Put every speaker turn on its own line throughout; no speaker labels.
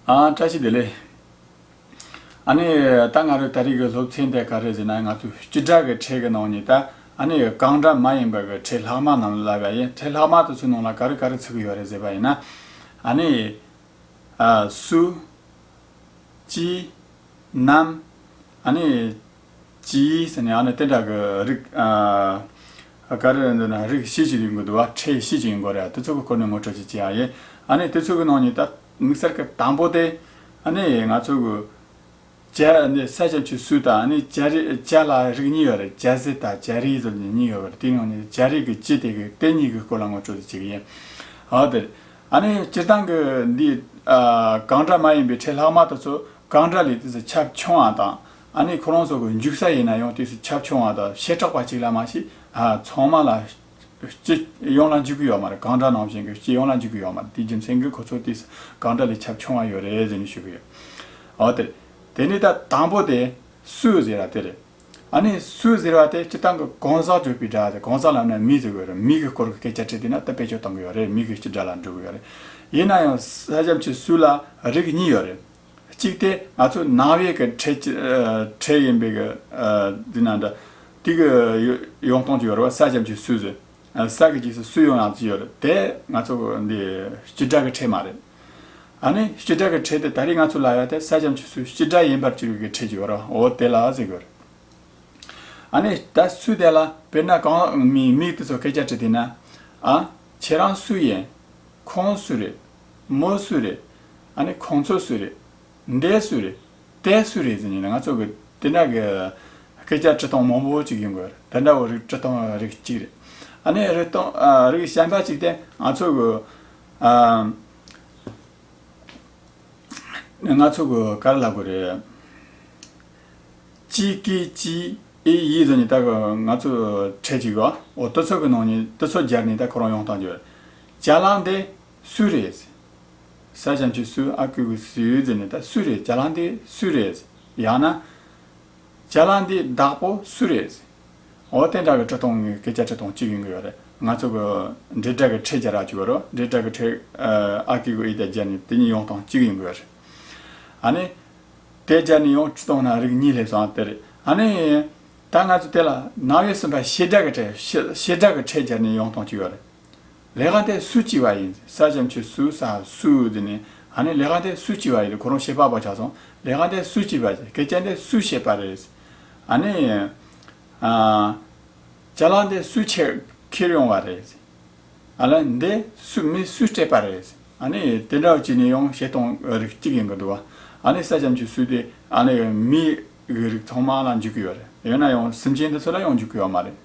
ཨ། བཀྲ་ཤིས་བདེ་ལེགས། ཨ་ནི། ད་ང་རོས་ད་རིག་གི་སློབ་ཚན་དེ་ག་རེ་ཟེར་ན་ང་ཚོས་སྤྱི་བསྒྲགས་ཀྱི་ཁྲལ་གི་ནང་ནས་ད་ཨ་ནི་གང་འདྲ་མ་ཡིན་པ་གི་ཁྲལ་ལྷག་མ་ནང་ལ་བ་ཡིན་ཁྲལ་ལྷག་མ་དེ་ཚོའི་ནང་ལ་ག་རེ་ག་རེ་ཚུད་གི་ཡོད་རེད་ཟེར་བ་ཡིན་ན། ཨ་ནི། ཨ། སུ། ཅི། ནམ། ཨ་ནི། ཅི་ཟེར་ནས་ཨ་ནི་སྟེ་བྲག་གི་རིགས། ག་རེ་རེད་འདོད་ན་རིགས་བཞི་ཅིག་ཡིན་དགོས་འདུག་བ་ཁྲེས་བཞི་ཅིག་ཡིན་དགོས་རེད་དེ་ཚོ་གི་སྐོར་ནས་ངོ་སྤྲོད་ཅིག་བྱེད་ཨ་ཡེ། ཨ་ནི་དེ་ཚོ་གི་ནང་ནས་ད་དམིགས་བསལ་གི་དང་པོ་དེ། ཨ་ནི་ང་ཚོ་གི། བྱ་ནི་ས་ཆ་ཆུ་སུལ་དང་ཨ་ནི་བྱ་རིགས་བྱ་ལ་རིགས་གཉིས་ཡོད་རེད་བྱ་ཟེ་དང་བྱ་རིགས་ཟེར་བ་གཉིས་ཡོད་རེད་དེའི་ནང་ནས་བྱ་རིགས་ཀྱི་སྤྱི་དེ་གི་དེ་གཉིས་ཀྱི་སྐོར་ལ་ངོ་སྤྲོད་ཅིག་བྱེད་ཀྱི་ཡིན། ཨོ་དེ་རེད། ཨ་ནི་སྤྱིར་བཏང་གི་འདི། གངས་བྲག་མ་ཡིན་པའི་ཁྲེས་ལྷག་མ་དེ་ཚོ་གངས་བྲག་ལས་དེ་ཚོ་ཁྱབ་ཆུང་ཨང་དང། ཨ་ནི་ཁོ་རང་ཚོ་གི་འཇུག་ས་ཡིན་ན་ཡང་དུས་སུ་ཁྱབ་ཆུང་བ་དང་ཞེ་དྲག་པ་གཅིག་ལ་མ་ཤི་ཚང་མ་ལ་སྤྱི་ཡོངས་ལ་འཇུག་གི་ཡོད་མ་རེད་གང་འདྲ་ནང་བཞིན་གྱི་སྤྱི་ཡོངས་ལ་འཇུག་གི་ཡོད་མ་རེད་དེའི་རྒྱུ་མཚན་གྱི་ཁོ་ཚོ་དུས་སུ་གང་འདྲ་ལས་ཁྱབ་ཆུང་བ་ཡོད་རེད་ཟེར་ནས་ཞུ་གི་ཡོད་འོ་དེ་དེ་ནས་ད་དང་པོ་དེ་སུས་ཟེར་བ་དེ་རེད་ཨ་ནི་སུས་ཟེར་བ་དེ་སྤྱི་བཏང་གི་གང་ཟག་གཅོད་པའི་དགྲ་དེ་གང་ཟག་ལམ་ནས་མི་བཟོ་གི་རེད་མི་གི་སྐོར་གི་སྐད་ཆ་དྲིས་དུས་ན་ད་དཔེ་ཆོས་བཏང་གི་ཡོད་རེད་མི་གི་སྤྱི་དགྲ་ལ་འགྲོ་གི་ཡོད་རེད་ཡིན་ན་ཡང་ས་ཆབ་ཆོས་སུ་ལ་རིགས་གཉིས་ཡོད་རེད་གཅིག་དེ་ང་ཚོ་ནང་བའི་གི་ཁྲལ་ཡིན་པའི་གི་དེ་ན་འདྲ། དེ་གི་ཡོང་སྟངས་ཀྱི་ཡོད་རེད་བ་ས་ཆ་ཆུ་སུ་ཟེར། ས་གི་ཆུ་སུ་ཡོང་ཡང་ཆུ་ཡོད་རེད་དེ་ང་ཚོ་འདི་སྤྱི་དྲ་གི་ཁྲལ་མ་རེད། ཨ་ནི་སྤྱི་དྲ་གི་ཁྲལ་དེ་ད་རེས་ང་ཚོ་ལ་ཡོད་དེ་ས་ཆ་ཆུ་སུ་སྤྱི་དྲ་ཡིན་པར་གྱུར་གི་ཁྲལ་གྱི་ཡོད་རེད་འོ་དེ་ལ་ཟེར་གི་རེད། ཨ་ནི་ད་སུ་དེ་ལ་དཔེར་ན་གང་མིག་དེ་ཚོ་སྐད་ཆ་དྲི་དེ་ན། ཨ་ཁྱེད་རང་སུ་ཡིན། ཁོང་སུ་རེད། མོ་སུ་རེད། ཨ་ནི་ཁོང་ཚོ་སུ་རེད། འདས་སུ་རེད། དེ་སུ་རེད་ཟེར་ནས་ང་ཚོ་གི་དེ་འདྲ་གི་སྐད་ཆ་ཁྲི་སྟོང་མང་པོ་ཅིག་ཡོང་གི་རེད་དེ་འདྲ་བོ་རིགས་ཁྲི་སྟོང་རིགས་གཅིག་རེད། ཨ་ནི་རིགས་སྟོང་རིགས་གཞན་པ་ཅིག་དེ་ང་ཚོ་གི། ང་ཚོ་གི་གར་ལ་གོ་རེད། ཅི་ཀི་ཅི་ཨི་ཡི་ཟེར་ནས་ད་གི་ང་ཚོ་གྲས་ཅིག་རོ་ཨོ་ཏོ་ཚོགས་ཀྱི་ནང་ནས་ཏི་ཚོགས་སྦྱར་ནས་ད་ཁོ་རང་ཡོང་སྟངས་རྒྱུ་རེད། བྱ་གླང་དེ་སུའི་རེད། ས་བྱམས་ཆུ་སུ་ཨ་ཁུ་གུ་སུའི་རྫི་ནི་ད་སུའི་རེད་བྱ་གླང་དེ་སུའི་རེད། ཡང་ན། བྱ་གླང་འདིའི་བདག་པོ་སུའི་རེད། འོ་དེ་འདྲ་བའི་ཁྲི་སྟོང་སྐད་ཆ་ཁྲི་སྟོང་གཅིག་ཡོང་གི་ཡོད་རེད། ང་ཚོ་གི་དྲིལ་བསྒྲགས་ཀྱི་ཁྲིད་བྱ་རག་བྱུས་རོགས་དྲིལ་བསྒྲགས་ཀྱི་ཁྲིད་ཨ་ཁུ་གུ་ཨི་དེ་བྱ་ནི་དེ་གཉིས་ཡོང་སྟོང་གཅིག་ཡོང་གི་ཡོད་རེད། ཨ་ནི། དེ་བྱ་ནི་ཡོང་ཁྲི་སྟོང་ན་རིགས་གཉིས་སླེབས་སོང་དེ་རེད། ཨ་ནི། ད་ང་ཚོ་དེ་ལ་ནང་བའི་སེམས་པ་ཞེ་དྲག་གི་ཁྲིད་བྱ་ནི་ཡོང་སྟོང་གཅིག་ཡོད་རེད། ལས་ག་དེ་སུས་བྱས་པ་ཡིན། ས་བྱམས་ཆོས་སུ་ས་སུ་དེ་ནས་ཨ་ནི་ལས་ག་དེ་སུས་བྱས་པ་ཡིན་ཁོ་རང་ཤེས་པ་པོ་ཆགས་སོང་ལས་ག་དེ་སུས་བྱས་པ་ཡིན་སྐད་ཆ་འདི་སུས་བཤད་པ་རེད། ཨ་ནི། ལྕགས་སླང་དེ་སུས་ཁྱེར་ཁྱེར་ཡོང་བ་རེད། ཨ་ལས་འདི་སུས་མི་སུས་སྤྲད་པ་རེད། ཨ་ནི་དེ་འདྲ་བྱས་ནས་ཡང་བཤད་སྟངས་རིགས་གཅིག་ཡིན་གྱི་འདུག་ཨ་ནི་ས་བྱམས་ཆོས་སུ་དེ་ཨ་ལས་མིའི་རིགས་ཚང་མ་ལ་འཇུག་གི་ཡོད་རེད་ཡོད་ན་ཡང་སེམས་ཅན་འདི་ཚོ་ལ་ཡང་འཇུག་གི་ཡོད་མ་རེད།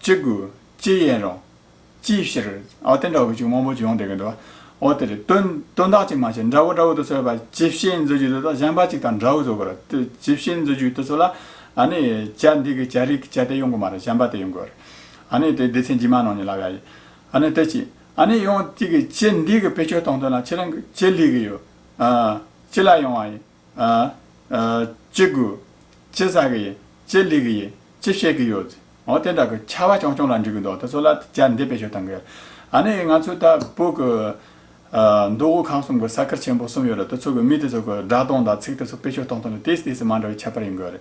ཅི་དགོས་ཅི་ཡིན་རུང། ཅིའི་ཕྱིར། ཨོ་དེ་འདྲ་བོ་ཅིག་དབང་པོ་ཅིག་ཡོང་བསྡད་ཀྱི་འདུག་ཨོ་དེ་རེད། དོན་དག་ཅིག་མ་བྱས་འདྲ་བོ་འདྲ་བོ་དུ་ཚོད་པ་ཇི་བྱེད་མཛོད་རྒྱུ་དེ་དག་གཞན་པ་ཅིག་དང་འདྲ་བོ་བཟོ་དགོས་རེད། ཇི་བྱེད་མཛོད་རྒྱུ་དེ་ཚོ་ལ། ཨཱ་ནི། བྱ་འདི་གི་བྱ་རིགས་ཀྱི་བྱ་དེ་ཡོང་དགོས་མ་རེད་གཞན་པ་དེ་ཡོང་དགོས་རེད། ཨཱ་ནི་དེ་སྡེ་ཚན་ཇི་མ་ནང་ནས་ལབ་ཡ་ཡིན། ཨཱ་ནི་དེ་ཅིག། ཨཱ་ནི་ཡང་ཅིག་གིས་བྱེད་འདི་གི་བེད་སྤྱོད་གཏོང་དོན་ལ་ཁྱེད་རང་གི་ཅི་ལས་ཀྱི་ཡོད། ཨཱ། ཅི་ལ་ཡོང་བ་ཡིན། ཅི་དགོས། ཅི་བཟའ་གི་ཡིན། ཅི་ལས་གི་ཡིན། ཅི་བཤད་གི་ཡོད། འོ་དེ་འདྲ་གི་ཆ་བ་ཆུང་ཆུང་ལ་འགྲིག་གི་འདུག་དེ་ཚོ་ལ་དེ་ལྟར་འདེད་པའི་ཞོ་དང་གི། ཨ་ནི་ང་ཚོའི་ད་བོད་གི། མདོ་དབུས་ཁམས་གསུམ་གི་ས་ཁུལ་ཆེན་པོ་གསུམ་ཡོད་རེད་དེ་ཚོ་གི་མི་དེ་ཚོ་གི་སྒྲ་གདངས་དང་ཚིག་དེ་ཚོ་དཔེ་ཞོ་གཏོང་སྟངས་ལ་དེ་སྲིད་དེ་སྲིད་མ་འདྲ་བའི་ཁྱད་པར་ཡོད་གི་རེད།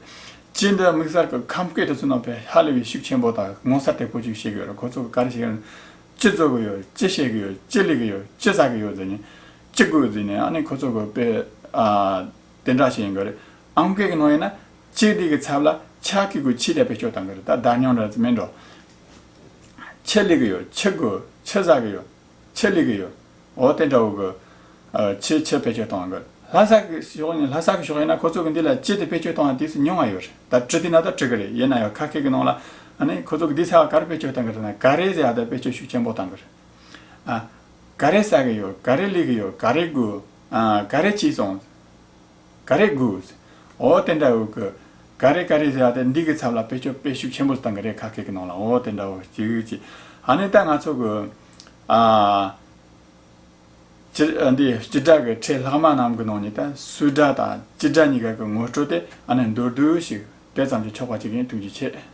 སྤྱིར་འདི་དམིགས་བསལ་གི་ཁམས་སྐད་དེ་ཚོའི་ནང་དུ་ཧ་ལས་པའི་ཤུགས་ཆེན་པོ་དང་ངོ་མཚར་དེ་པོ་ཅིག་བཤད་གི་ཡོད་རེད་ཁོ་ཚོ་གི་ག་རེ་བཤད་ཀྱི་ཡོད། ཅི་བཟོ་གི་ཡོད། ཅི་བཤད་གི་ཡོད། ཅི་ལས་གི་ཡོད། ཅི་བཟའ་གི་ཡོད་ཟེར་ནས། ཅི་དགོས་ཟེར་ནས་ཨ་ནི་ཁོ་ཚོ་གོ་དཔེ་དེ་འདྲ་ཞིག་ཡིན་གི་རེད་ཨང་སྐད་ཀྱི་ནང་ཡིན་ན་སྤྱི་བདེ་གི་ཚབ་ལ་ཆ་ཁུག་གི་ཕྱི་རྒྱ་བེད་སྤྱོད་བཏང་གི་རེད་ད་བདག་ཉོན་རེད་མིན་འགྲོ། ཆེ་ལེགས་ཡོད་ཆེ་དགོས་ཆེ་བཟའ་གི་ཡོད་ཆེ་ལེགས་ཡོད་འོ་དེ་འདྲ་བོ་གི། ཆེ་ཆེ་བེད་སྤྱོད་བཏང་གི་རེད་ལྷ་ས་གི་ཕྱོགས་ནས་ལྷ་ས་གི་ཕྱོགས་ཡིན་ན་ཁོ་ཚོ་གི་འདི་ལ་སྤྱི་བདེ་བེད་སྤྱོད་བཏང་བ་དུས་སུ་ཉུང་བ་ཡོད་རེད་ད་དྲི་དུས་ན་ད་དྲི་གི་རེད་ཡིན་ན་ཡང་ཁ་སྐད་ཀྱི་ནང་ལ་ཨ་ནི་ཁོ་ཚོ་གི་འདི་ཚ་བ་ག་རེ་བེད་སྤྱོད་བཏང་གི་རེད་ན་ག་རེ་ཟེར་ཡ་ད་བེད་སྤྱོད་ཤུགས་ཆེན་པོ་བཏང་གི་རེད། ག་རེ་ཟ་གི་ཡོད་ག་རེ་སླེབས་གི་ཡོད་ག་རེ་དགོས་ག་རེ་བྱས་སོང་ག་རེ་དགོས། འོ་དེ་འདྲ་འོ་ཁུ། ག་རེ་ག་རེ་བྱས་ཏེ་འདི་གི་ཚབ་ལ་དཔེ་ཆོད་དཔེ་ཞུགས་ཆེན་པོ་བཏང་གི་རེད་ཁ་སྐད་ཀྱི་ནང་ལ་འོ་དེ་འདྲ་འོ་ཅི་གི་ཅི། ཧ་ནི་ད་ང་ཚོ་གི། འདི་སྤྱི་བསྒྲགས་ཀྱི་ཁྲལ་ལྷག་མ་རྣམས་ཀྱི་ནང་ནས་ད་སུས་བསྒྲགས་དང་ཅི་བསྒྲགས་གཉིས་ཀ་གི་ངོ་སྤྲོད་དེ་ཨ་ནི་མདོར་བསྡུས་ཤིག་དེ་ཙམ་གྱིས་ཆོག་པ་ཅིག་ཡིན་ཐུགས་རྗེ་ཆེ།